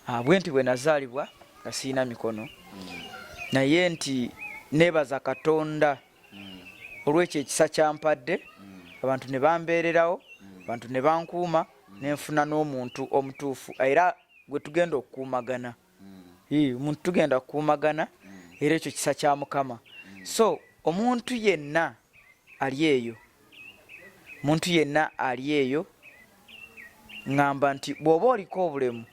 ah, bwe nti bwe nazaalibwa nga sirina mikono naye nti nebaza katonda olwekyo ekisa kyampadde abantu ne bambeererawo abantu ne bankuuma nenfuna n'omuntu omutuufu era gwe tugenda okukuumagana omuntu tugenda kukuumagana era ekyo kisa kya mukama so omuntu yenna ali eyo omuntu yenna ali eyo ngamba nti bw'oba oliko obulemu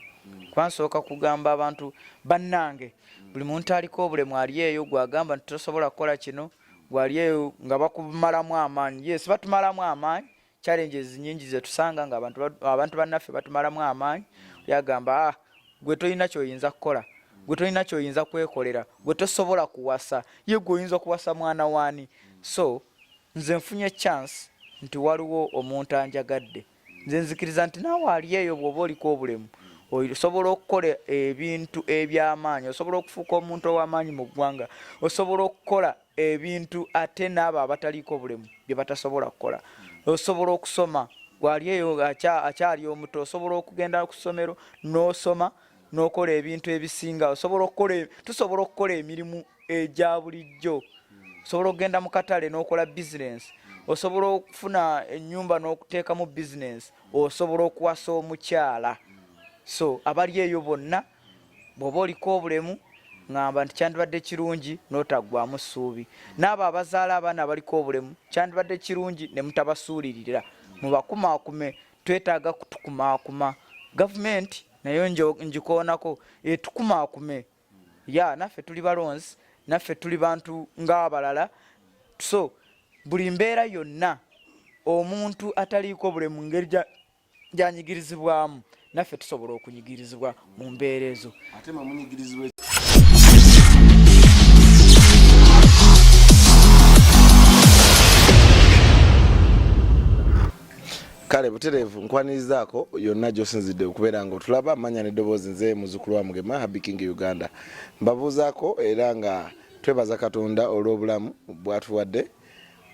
kuba nsooka kugamba abantu bannange buli muntu aliko obulemu ali eyo gwagamba nti tosobola kukola kino gwali eyo nga bakumalamu amaanyi yes batumalamu amaanyi challenges nyingi zetusanga nga abantu bannaffe batumalamu amaanyi yagamba ah, gwe tolina kyoyinza kukola gwe tolina kyoyinza kwekolera gwe tosobola kuwasa ye gwe oyinza kuwasa mwana waani so nze nfunye chance nti waliwo omuntu anjagadde nze nzikiriza nti naawe ali eyo bw'oba oliko obulemu osobola okukola ebintu eby'amaanyi osobola okufuuka omuntu ow'amaanyi mu ggwanga osobola okukola ebintu ate n'abo abataliiko obulemu bye batasobola kukola osobola okusoma gwali eyo akyali omuto osobola okugenda ku ssomero n'osoma n'okola ebintu ebisinga osobola okukola tusobola okukola emirimu egya bulijjo osobola okugenda mu katale n'okola bizinensi osobola okufuna enyumba n'okuteekamu bizinensi osobola okuwasa omukyala so abali eyo bonna bw'oba oliko obulemu ŋamba nti kyandibadde kirungi n'otaggwamu ssuubi n'abo abazaala abaana abaliko obulemu kyandibadde kirungi ne mutabasuulirira mubakumaakume twetaaga kutukumaakuma gavumenti nayo njikoonako etukumaakume ya naffe tuli balonzi naffe tuli bantu ng'abalala so buli mbeera yonna omuntu ataliiko buli mu ngeri gyanyigirizibwamu naffe tusobola okunyigirizibwa mu mbeera ezo kale butereevu nkwanirizaako yonna gyosinzidde okubeera nga otulaba manya neddoboozi nze muzukulu wa mugema habi king uganda mbabuuzaako era nga twebaza katonda olw'obulamu bwatuwadde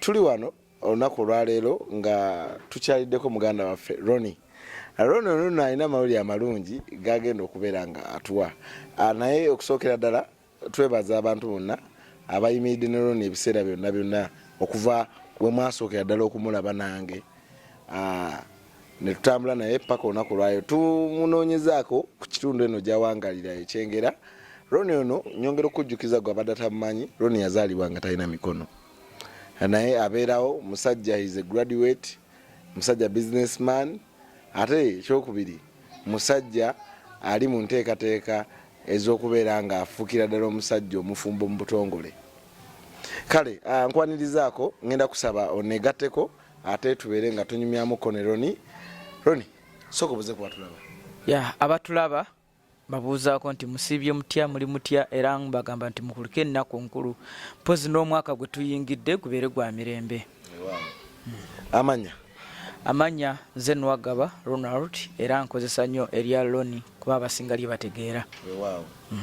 tuli wano olunaku olwaleero nga tukyaliddeko muganda waffe roni roni onono alina amawulire amalungi gagenda okubeera nga atuwa ah, naye okusookera ddala Twebaza abantu bonna abayimiridde ne Ronnie ebiseera byonna byonna okuva we mwasookera ddala okumulaba nange ah, ne tutambula naye paka olunaku lwayo tumunoonyezaako ku kitundu eno gyawangalira ekyengera Roni ono nyongera okujjukiza gwe abadde atamumanyi Roni yazaalibwa nga talina mikono naye abeerawo musajja is a graduate musajja businessman ate ekyokubiri musajja ali mu nteekateeka ez'okubeera ng'afuukira ddala omusajja omufumbo mu butongole kale ah, nkwanirizaako ngenda kusaba onegatteko ate tubeere nga tunyumyamuko ne roni roni sooka obuze kubatulaba ya abatulaba babuuzaako nti musiibye mutya muli mutya era bagamba nti mukulike ennaku nkulu mpozi n'omwaka gwe tuyingidde gubeere gwa mirembe amanya amanya nze nwagaba ronald era nkozesa nnyo erya loni kuba abasinga lye bategeera mm.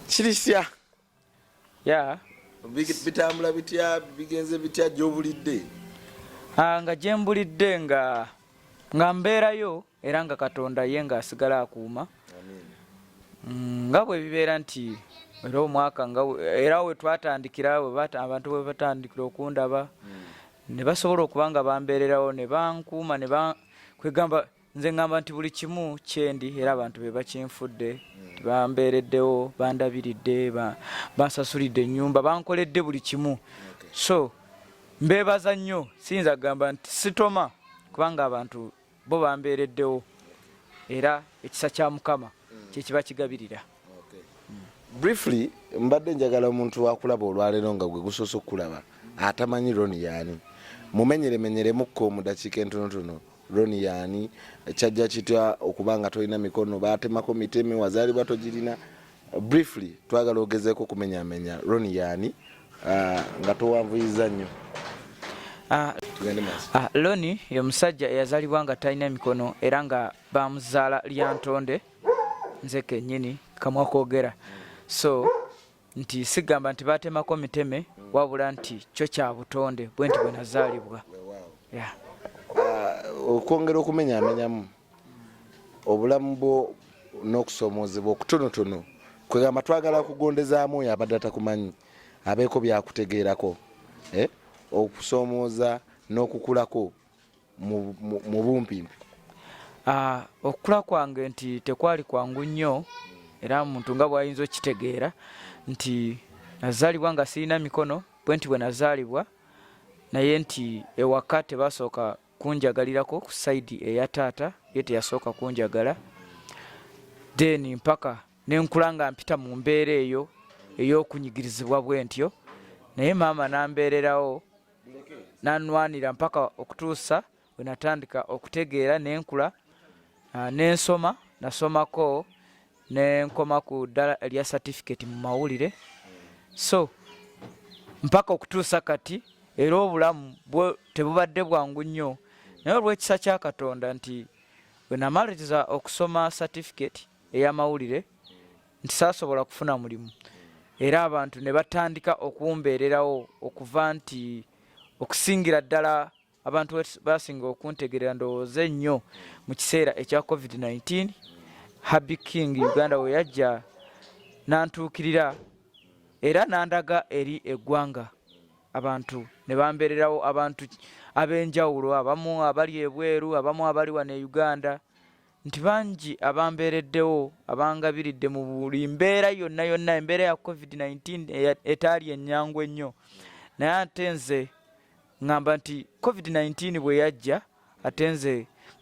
kirisya ya bitambula bitya bigenze bitya gyobulidde ah, nga gyembulidde nga nga mbeerayo era nga katonda ye nga asigala akuuma mm, nga bwe bibeera nti era omwaka nga era we twatandikira abantu bwe batandikira okundaba hmm. ne basobola okuba nga bambeererawo ne bankuuma ne kwegamba nze ngamba nti buli kimu kyendi era abantu be bakinfudde bambeereddewo bandabiridde bansasulidde ennyumba bankoledde buli kimu so mbeebaza nnyo siyinza kugamba nti sitoma kubanga abantu bo bambeereddewo era ekisa kya mukama kyekiba kigabirira briefly mbadde njagala omuntu wakulaba olwaleero nga gwe gusoose okukulaba atamanyi roni yaani mumenyeremenyeremukko mu dakiika entonotono roni yaani kyajja kitya okuba nga tolina mikono batemako miteme wazaalibwa togirina briefly twagala ogezeeko okumenyamenya roni yaani ah, nga towanvuyiza nnyo ah, ah, loni ye musajja eyazalibwa nga talina mikono era nga bamuzaala lyantonde nze kenyini kamwa kogera so nti sigamba nti batemako miteme wabula nti kyo kya butonde bwe nti bwenazaalibwa uh, okwongera okumenyamenyamu obulamu bwo n'okusoomoozebwa okutonotono kwegamba twagala kugondezaamu oyo abadde atakumanyi abeeko byakutegeerako eh? okusoomooza n'okukulako mu bumpimpi ah, okukula kwange nti tekwali kwangu nnyo era muntu nga bwayinza okukitegeera nti nazaalibwa nga sirina mikono bwe nti bwe nazaalibwa naye nti ewaka tebasooka kunjagalirako ku saidi eya taata ye teyasooka kunjagala then mpaka nenkula nga mpita mu mbeera eyo eyokunyigirizibwa bwentyo naye maama nambeererawo nanwanira mpaka okutuusa wenatandika okutegeera nenkula ah, nensoma nasomako nenkoma ku ddala erya certificate mu mawulire so mpaka okutuusa kati era obulamu bwo tebubadde bwangu nnyo naye olwekisa kya katonda nti wenamaliriza okusoma certificate eyamawulire nti saasobola kufuna mulimu era abantu ne batandika okumbeererawo okuva nti okusingira ddala abantu basinga okuntegerera ndowooza ennyo mu kiseera ekya covid-19 habi king uganda we yajja nantuukirira era nandaga eri eggwanga abantu ne bambeererawo abantu ab'enjawulo abamu abali ebweru abamu abali wano e uganda nti bangi abambeereddewo abangabiridde mu buli mbeera yonna yonna embeera ya covid-19 etaali ennyangu ennyo naye ate nze ŋŋamba nti covid-19 bwe yajja ate nze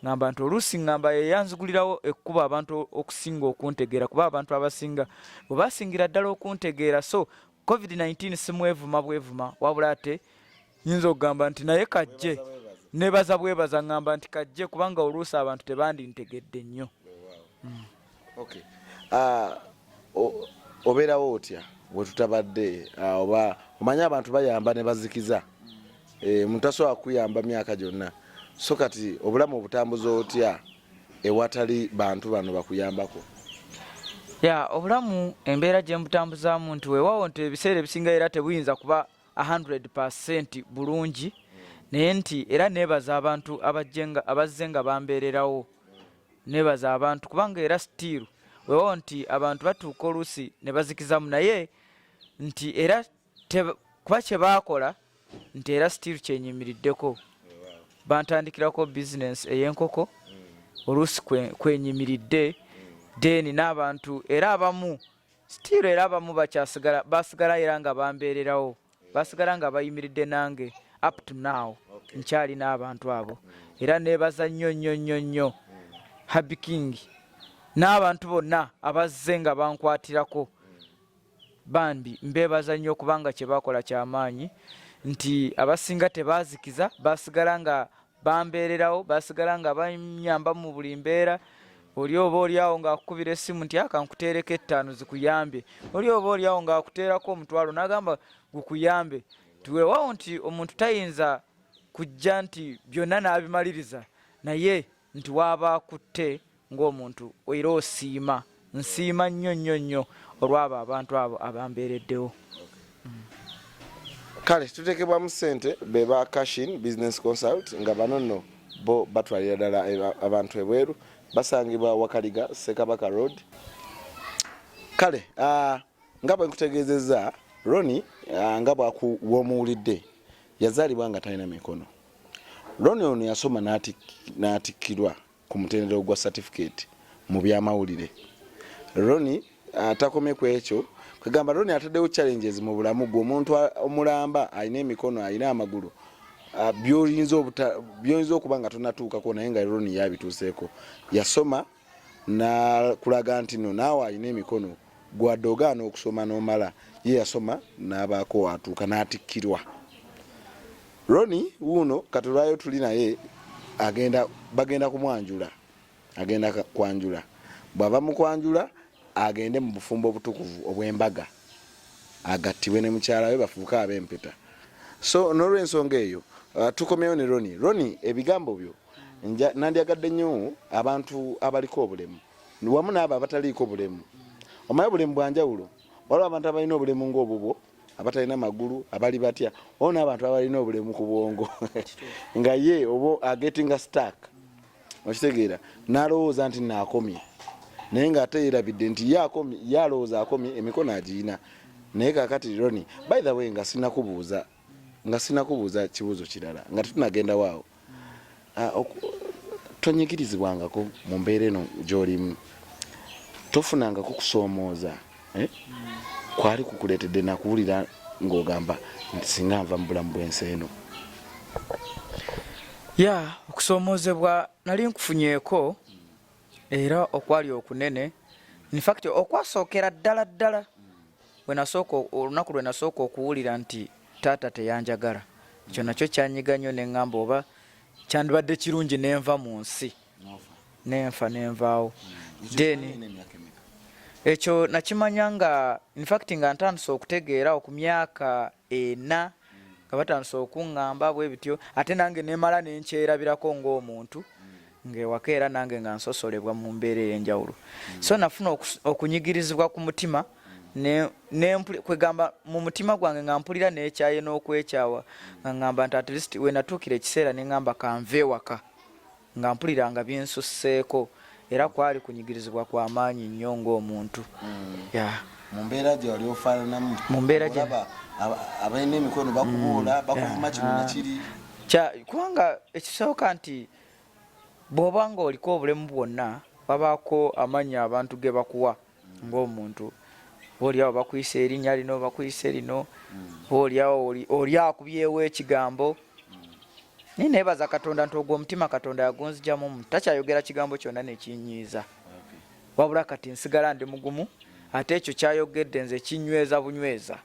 ŋŋamba nti oluusi ŋŋamba yeyanzigulirawo ekkuba abantu okusinga okuntegeera kuba abantu abasinga bwe basingira ddala okuntegeera so covid 19 simwevuma bwevuma wabula ate nyinza okugamba nti naye kajje nebaza bwebaza ngamba nti kajje kubanga oluusi abantu tebandintegedde nnyo mm. okay. uh, obeerawo otya wetutabadde ah, oba omanye abantu bayamba nebazikiza eh, mutasobola kuyamba myaka gyonna so kati obulamu obutambuza otya ewatali bantu bano bakuyambako ya obulamu embeera gye mbutambuzaamu nti weewaawo nti ebiseera ebisinga era tebuyinza kuba 100 percent bulungi naye nti era neebaza abantu abazze nga bambeererawo neebaza abantu kubanga era sitiiru weewaawo nti abantu batuuka oluusi ne bazikizaamu naye nti era kuba kye baakola nti era sitiiru kyenyimiriddeko bantandikirako bizinensi ey'enkoko oluusi kwenyimiridde deeni n'abantu era abamu sitiiru era abamu bakyasigala basigala era nga bambeererawo basigala nga bayimiridde nange up to now nkyali n'abantu abo era neebaza nnyo nnyo nnyo nnyo habikingi n'abantu bonna abazze nga bankwatirako Bambi mbeebaza nnyo kubanga kye baakola kya maanyi nti abasinga tebaazikiza baasigala nga bambeererawo baasigala nga banyamba mu buli mbeera oli oba olyawo ng'akukubira essimu nti akankuteereko ettaano zikuyambe oli oba olyawo ng'akuteerako omutwalo n'agamba gukuyambe tiweewawo nti omuntu tayinza kujja nti byonna n'abimaliriza naye nti waaba akutte ng'omuntu era osiima nsiima nnyo nnyo nnyo olwabo abantu abo abambeereddewo kale tutekebwamu sente beba cashin business consult nga bano nno bo batwalira ddala abantu ebweru basangibwa wakaliga sekabaka road kale uh, nga bwe nkutegeezezza roni uh, nga bwakuwomuwulidde yazaalibwa nga talina mikono Ronnie ono yasoma n'atikkirwa ku mutendera ogwa certificate mu byamawulire. Ronnie atakomye ku ekyo kagamba Ronnie ataddewo challenges mu bulamu gwe omuntu omulamba alina emikono alina amagulu byoyinza okuba nga tonatuukako naye nga Ronnie yabituuseeko yasoma nakulaga nti no naawe alina emikono gwadde ogaana okusoma nomala ye yasoma nabaako watuuka natikkirwa roni wuuno katulwayo tuli naye agenda bagenda kumwanjula agenda kwanjula bwava mukwanjula agende mu bufumbo obutukuvu obwembaga agattibwe ne mukyala we bafuuke abempeta so nolwensonga eyo uh, tukomyewo ne roni roni ebigambo byo nandyagadde nnyo abantu abaliko obulemu wamu naabo abataliiko bulemu omaye bulemu bwanjawulo waliwo abantu abalina obulemu ngaobubwo abatalina magulu abali batya wao naabantu abalina obulemu ku bwongo nga ye oba agetinga stark okitegeera nalowooza nti naakomye naye nga ate yerabidde nti ye alowooza akomye emikono agiyina naye kakati roni by the way nga sinakubuuza nga sinakubuuza kibuuzo kirala nga tetunagendawo awo ah, tonyigirizibwangako mu mbeera eno gyolimu tofunangako kusoomooza eh? kwali kukuleetedde nakuwulira ng'ogamba nti singa nva mu bulamu bw'ensi eno ya okusoomoozebwa nali nkufunyeeko era okwali okunene infact okwasookera ddala ddala olunaku lwe nasooka okuwulira nti taata teyanjagala ekyo nakyo kyanyiga nnyo ne ŋŋamba oba kyandibadde kirungi nenva mu nsi nenfa nenvaawo then ekyo nakimanya nga infact nga ntandise okutegeera oku myaka ena nga batandise okuŋŋamba bwe bityo ate nange nemala ne nkyerabirako ng'omuntu ng'ewaka era nange nga nsosolebwa mu mbeera ey'enjawulo so nafuna okunyigirizibwa ku mutima kwegamba mu mutima gwange nga mpulira nekyaye n'okwekyawa nga ŋŋamba nti at least wenatuukira ekiseera ne ŋŋamba kanva ewaka nga mpulira nga binsusseeko era kwali kunyigirizibwa kwa maanyi nnyo ng'omuntu mu mbeera gye wali ofaananamu mu mbeera gye abalina emikono bakubuula mm. bakuvuma kino na kiri kubanga ekisooka nti bw'oba ng'oliko obulemu bwonna babaako amannya abantu ge bakuwa ng'omuntu oolyawo bakuyisa erinnya lino bakuyise lino oolyawo oli akubyewo ekigambo naye neebaza katonda nti ogwo omutima katonda yagunzijamu omuntu takyayogera kigambo kyonna nekinyiiza wabula kati nsigala ndi mugumu ate ekyo kyayogedde nze kinyweza bunyweza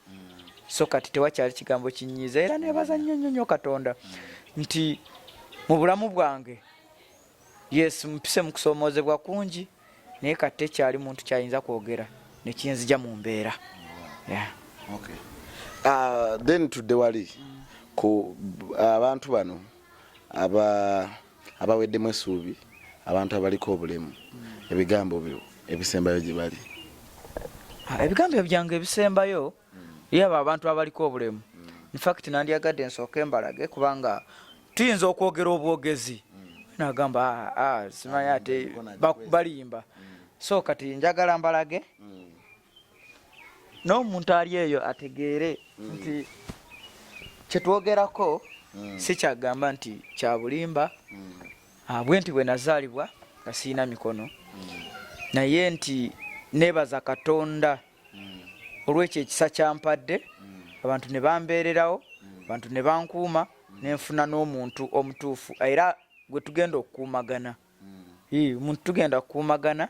so kati tewakyali kigambo kinyiiza era neebaza nnyo nnyo nnyo katonda nti mu bulamu bwange yes mpise mu kusoomoozebwa kungi naye kati tekyali muntu kyayinza kwogera ne kinzija mu mbeera ah, then tudde wali ku abantu bano abaweddemu essuubi abantu abaliko obulemu ebigambo byo ebisembayo gye bali ah, ebigambo byange ebisembayo yaba abantu abaliko obulemu infact nandyagadde nsooka embalage kubanga tuyinza okwogera obwogezi nagamba ah, ah, simanyi ate balimba so kati njagala mbalage n'omuntu ali eyo ategeere nti kyetwogerako sikyagamba nti kyabulimba abwe ah, nti bwe nazaalibwa nga sirina mikono naye nti nebaza katonda olwekyo ekisa kyampadde abantu ne bambeererawo abantu ne bankuuma nenfuna n'omuntu omutuufu era gwe tugenda okukuumagana omuntu tugenda kukuumagana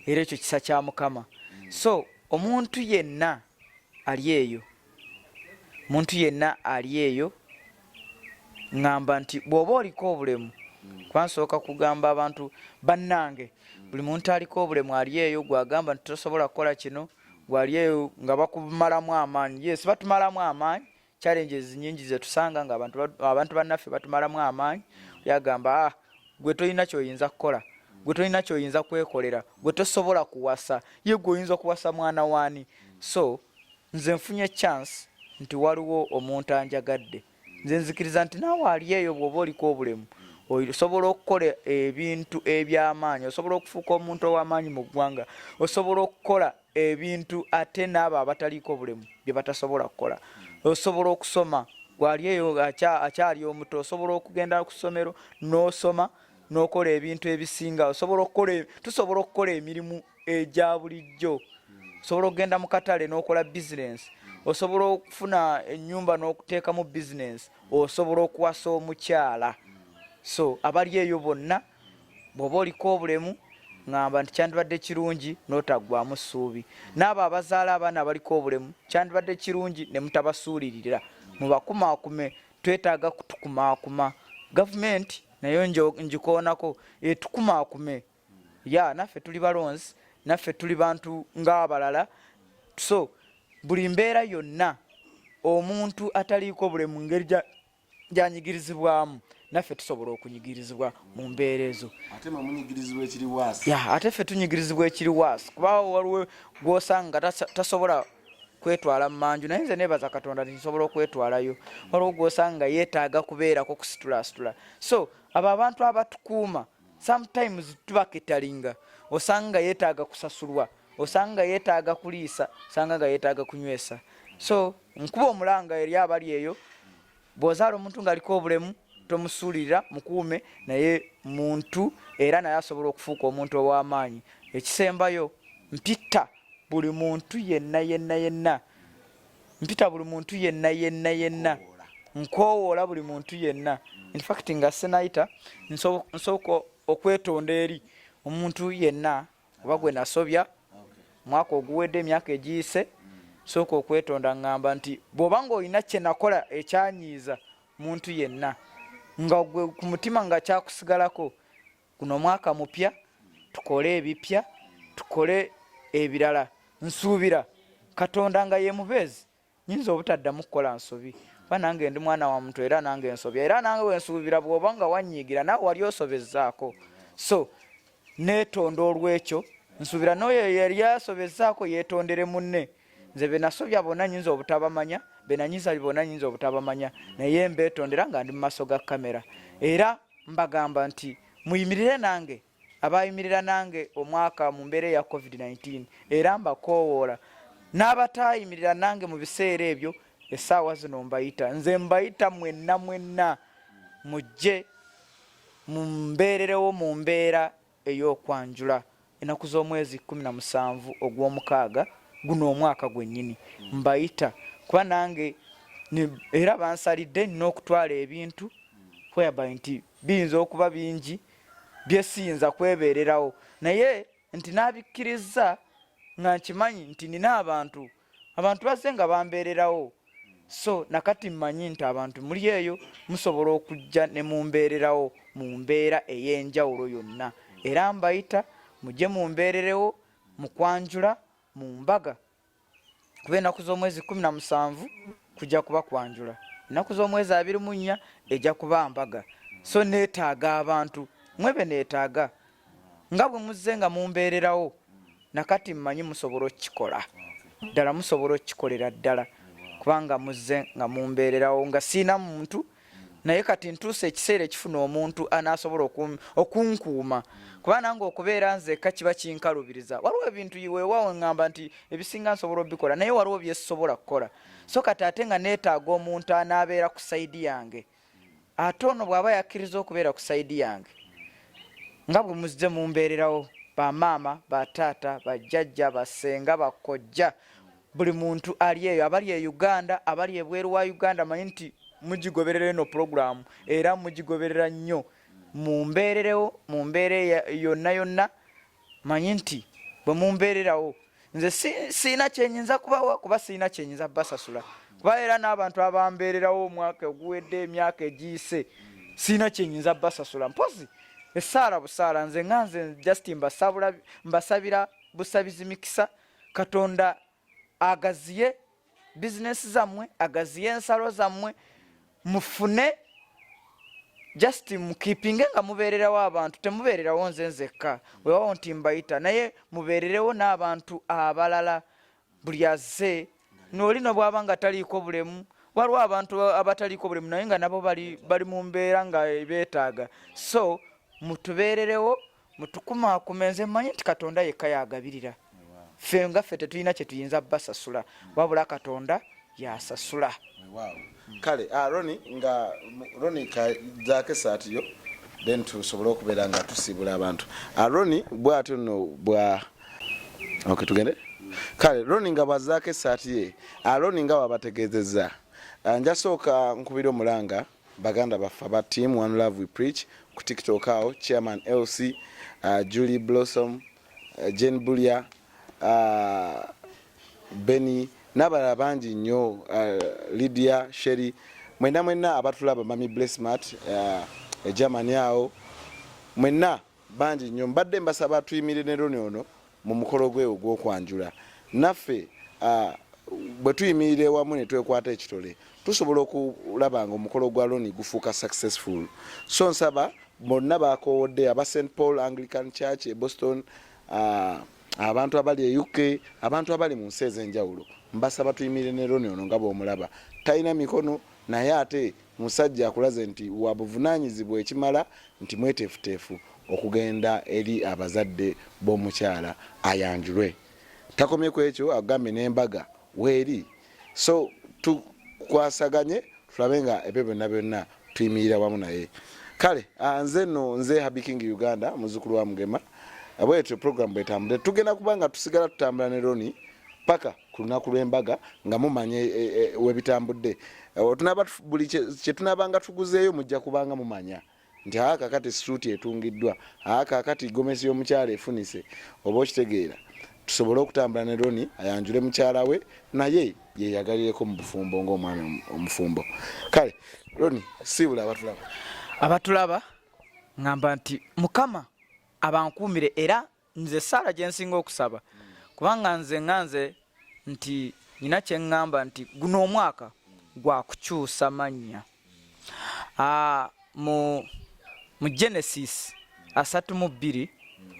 era ekyo kisa kya mukama so omuntu yenna ali eyo omuntu yenna ali eyo ngamba nti bwoba oliko obulemu kuba nsooka kugamba abantu bannange buli muntu aliko obulemu ali eyo gwagamba nti tosobola kukola kino gwali eyo nga bakumalamu amaanyi yes batumalamu amaanyi challenges nyingi zetusanga nga abantu bannaffe batumalamu amaanyi yagamba ah, gwe tolina kyoyinza kukola gwe tolina kyoyinza kwekolera gwe tosobola kuwasa ye gwe oyinza kuwasa mwana waani so Nze nfunye chance nti waliwo omuntu anjagadde. Nze nzikiriza nti naawe ali eyo bw'oba oliko obulemu osobola okukola ebintu eby'amaanyi, osobola okufuuka omuntu ow'amaanyi mu ggwanga, osobola okukola ebintu ate n'abo abataliiko bulemu bye batasobola kukola, osobola okusoma gwali eyo akyali omuto osobola okugenda ku ssomero n'osoma n'okola ebintu ebisinga osobola okukola tusobola okukola emirimu egya bulijjo osobola okugenda mu katale n'okola bizinensi osobola okufuna enyumba n'okuteekamu bizinensi osobola okuwasa omukyala so abali eyo bonna bw'oba oliko obulemu ŋamba nti kyandibadde kirungi n'otaggwamu ssuubi n'abo abazaala abaana abaliko obulemu kyandibadde kirungi ne mutabasuulirira mubakumaakume twetaaga kutukumaakuma gavumenti nayo njikoonako etukumaakume ya naffe tuli balonzi naffe tuli bantu ng'abalala so buli mbeera yonna omuntu ataliiko bule mu ngeri gyanyigirizibwamu naffe tusobola okunyigirizibwa mu mbeera ezo ate ffe tunyigirizibwa ekiri waasi kuba waliwo gwosanga tasobola kwetwala mumanju naye nze nebaza katonda tinsobola okwetwalayo waliwo gwosanga yetaaga kubeerako kusitulasitula so abo abantu abatukuuma sometimes tuba ketalinga osanga yetaaga kusasulwa osanga yetaaga kuliisa osanga nga yetaaga kunywesa so nkuba omulanga eri abali eyo bwozaala omuntu ngaaliko obulemu tomusuulirira mukuume naye muntu era naye asobola okufuuka omuntu ow'amaanyi ekisembayo mpitta buli muntu yenna yenna yenna mpita buli muntu yenna yenna yenna nkowoola buli muntu yenna infact nga sinayita nsooka okwetonda eri omuntu yenna oba gwe nasobya mwaka oguwedde emyaka egiyise sooka okwetonda ngamba nti bwoba nga olina kyenakola ekyanyiiza muntu yenna nga gwe ku mutima nga kyakusigalako guno mwaka mupya tukole ebipya tukole ebirala nsuubira katonda nga yemubeezi nyinza obutaddamu kukola nsobi kuba nange ndi mwana wa muntu era nange nsobya era nange wensuubira bwoba nga wanyiigira nawe wali osobezaako so netonda olwekyo nsuubira noyo yali asobezaako yetondere munne nze benasobya bona nyinza obutabamanya benanyiza bona nyinza obutabamanya naye mbetondera nga ndi mumaso ga kamera era mbagamba nti muyimirire nange abayimirira nange omwaka mu mbeera eya covid-19 era mbakoowoola n'abatayimirira nange mu biseera ebyo essaawa zino mbayita nze mbayita mwenna mwenna mujje mumbeererewo mu mbeera ey'okwanjula ennaku z'omwezi kkumi na musanvu ogw'omukaaga guno omwaka gwennyini mbayita kuba nange era bansalidde nina okutwala ebintu whereby nti biyinza okuba bingi byesiyinza kwebeererawo naye nti n'abikkirizza nga nkimanyi nti nina abantu abantu bazze nga bambeererawo so nakati mmanyi nti abantu muli eyo musobola okujja ne mumbeererawo mu mbeera ey'enjawulo yonna era mbayita mujje mumbeererewo mu kwanjula mu mbaga kuba ennaku z'omwezi kumi na musanvu kujja kuba kwanjula ennaku z'omwezi abiri mu nnya ejja kuba mbaga so neetaaga abantu mwebe neetaaga nga bwe muzze nga mumbeererawo nakati mmanyi musobola okukikola ddala musobola okukikolera ddala kubanga muzze nga mumbeererawo nga siina muntu naye kati ntuusa ekiseera ekifuna omuntu anaasobola okunkuuma kuba nange okubeera nzeka kiba kinkalubiriza waliwo ebintu weewaawo ngamba nti ebisinga nsobola obikola naye waliwo byesobola kukola so kati ate nga neetaaga omuntu anaabeera ku sayidi yange ate ono bwaba yakkiriza okubeera ku saidi yange nga bwe muzze mumbeererawo bamaama bataata bajjajja basenga bakojja buli muntu ali eyo abali e uganda abali ebweru wa uganda manyi nti mugigoberera eno pulogulaamu era mugigoberera nnyo mumbeererewo mu mbeera yonna yonna manyi nti bwe mumbeererawo nze siina kyenyinza kubawa kuba siina kyenyinza basasula kuba era n'abantu abambeererawo omwaka oguwedde emyaka egiyise siina kyenyinza basasula mpozi esaala busaala nze nga nze just mbasabira busabizi mikisa katonda agaziye bizinesi zammwe agaziye ensalo zammwe mufune just mukipinge nga mubeererawo abantu temubeererawo nze nzekka wewawo nti mbayita naye mubeererewo n'abantu abalala buli azze nooli nobwaba nga taliiko bulemu waliwo abantu abataliiko bulemu naye nga nabo bali mu mbeera nga beetaaga so mutubeererewo mutukumaakuma nze mmanyi nti katonda yekka yagabirira ffe nga ffe tetulina kye tuyinza basasula wabula katonda yasasula kale ah, roni nga roni kazaako esaati yo then tusobole okubeera nga tusiibula abantu ah, roni bwatyo no bwa ok tugende kale roni nga bwazaako esaati ye ah, roni nga wabategeezezza njasooka nkubira omulanga baganda baffe aba team one love we preach ku tiktok awo chairman lc uh, julie blossom uh, jane bulya uh, beni n'abalala bangi nnyo uh, lydia sheri mwenna mwenna abatulaba mami blessmart uh, egermany awo mwenna bangi nnyo mbadde mbasaba tuyimire ne loni ono mu mukolo gwe ogw'okwanjula naffe bwe tuyimirira ewamu ne twekwata ekitole tusobola okulaba nga omukolo gwa loni gufuuka successful so nsaba bonna bakowodde aba st paul anglican church e boston uh, abantu abali e uk abantu abali mu nsi ez'enjawulo mbasaba tuyimirire ne loni ono nga bw'omulaba talina mikono naye ate Musajja akulaze nti wa buvunaanyizibwa ekimala nti mweteefuteefu okugenda eri abazadde b'omukyala ayanjulwe. Takomye ku ekyo agambye n'embaga weeri so tukwasaganye tulabe nga ebyo byonna byonna tuyimirira wamu naye. Kale ah, nze no nze Habi King Uganda muzukulu wa Mugema. Abwetyo program bwetambule tugenda kuba nga tusigala tutambula ne Ronnie paka ku lunaku lw'embaga nga mumanya e, e, e, webitambudde buli kyetunabanga tuguzeeyo mujja kubanga mumanya nti aa kakati suuti etungiddwa aa kakati gomesi y'omukyalo efunise oba okitegeera tusobole okutambula ne roni ayanjule mukyala we naye yeyagalireko mu bufumbo ngaomwami omufumbo kale roni siibula abatulaba abatulaba ngamba nti mukama abankuumire era nze esaala gyensinga okusaba kubanga nze nga nze nti nina kyeŋŋamba nti guno omwaka gwa kukyusa mannya ah, mu mu genesis asatu mu bbiri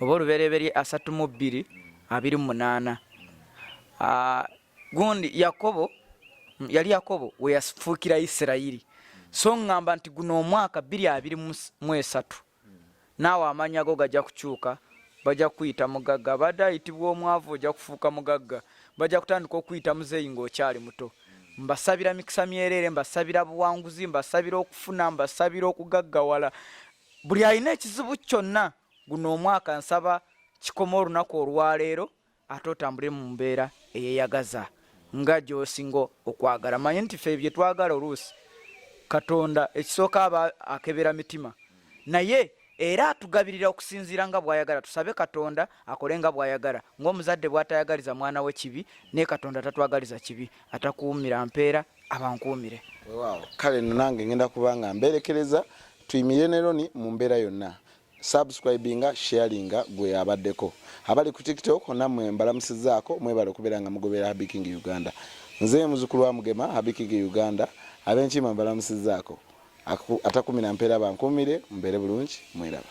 oba olubereberye asatu mu bbiri abiri munaana ah, gundi yakobo yali yakobo weyafuukira isirayiri so ŋŋamba nti guno omwaka bbiri abiri mu esatu naawe amannya go gajja kukyuka bajja kukuyita mugagga abadde ayitibwa omwavu ojja kufuuka mugagga bajja kutandika okukuyita muzeeyi ng'okyali muto mbasabira mikisa myereere mbasabira buwanguzi mbasabira okufuna mbasabira okugaggawala buli alina ekizibu kyonna guno omwaka nsaba kikoma olunaku olwaleero ate otambule mu mbeera eyeyagaza nga gyosinga okwagala manye nti fe byetwagala oluusi katonda ekisooka aba akebera mitima naye era atugabirira okusinziira nga bwayagala tusabe katonda akole nga bwayagala ngaomuzadde bwatayagaliza mwana we kibi naye katonda tatwagaliza kibi atakuumira mpeera abankuumire kale nange ngenda kubanga mberekereza tuyimire neroni mu mbeera yonna subscribinga sharinga gwe abaddeko abali ku tiktok namwe mbalamusizaako mwebale okubeera nga mugoberera habiking uganda nze muzukulu wa mugema habiking uganda abenkima mbalamusizaako atakumira mpeera bankuumire mbeere bulungi mweraba